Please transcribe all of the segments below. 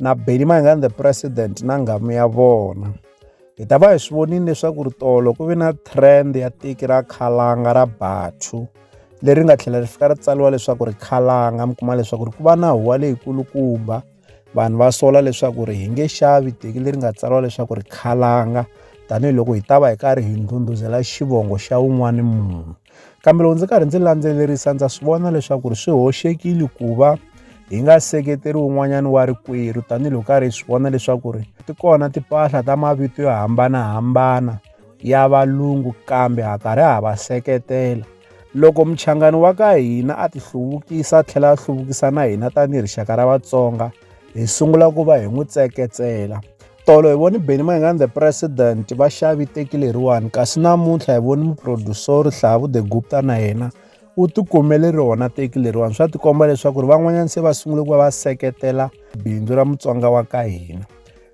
na Benny Mayengani the president na nghamu ya vona hi ta va hi swi vonile leswaku ri tolo ku ve na trend ya tiki ra khalanga ra bathu leri nga tlhela ri fika ri tsariwa leswaku ri khalanga mi kuma leswaku ri ku va na huwa leyikulukumba vanhu va sola leswaku ri hi nge xavi teki leri nga tsariwa leswaku ri khalanga tanihiloko hi ta va hi karhi hi ndhundhuzela xivongo xa wun'wani munhu Kambe loko ndzi karhi ndzi landzelerisa ndza swi vona leswaku ri swi hoxekile ku va hi nga seketeri un'wanyana wa rikwerhu tanihiloko karhi hi swi vona leswaku ri ti kona timpahla ta mavito yo hambanahambana ya valungu kambe ha karhi ha va seketela loko muchangani wa ka hina a ti hluvukisa a tlhela a hluvukisa na hina tanihi rixaka ra vatsonga hi sungula ku va hi n'wi tseketsela Tolo hi voni Benny Mayengani the president va xavi teki leriwani kasi namuntlha hi voni muproducer Hlavu the Gupta na yena u tikumele rona teki leriwani swa tikomba leswaku ri van'wanyana se va sungule ku va va seketela bindzu ra mutsonga wa ka hina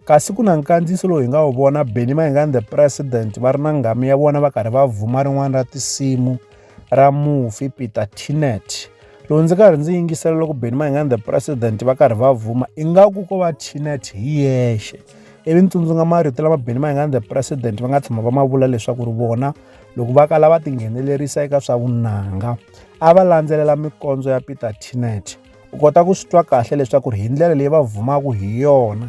kasi ku na nkandziyiso lowu hi nga wu vona Benny Mayengani the president va ri na nghamu ya vona va karhi va vhuma rin'wana ra tinsimu ra mufi Peter Teenet loko ndzi karhi ndzi yingisela loko Benny Mayengani the president va karhi va vuma ingaku ko va Teenet hi yexe ivi ni tsundzuka marito lama Benny Mayengani the president va nga tshama va ma vula leswaku ri vona loko va kala va tinghenelerisa eka swa vunanga a va landzelela mikondzo ya Peter Teenet u kota ku swi twa kahle leswaku ri hi ndlela leyi va vumaka hi yona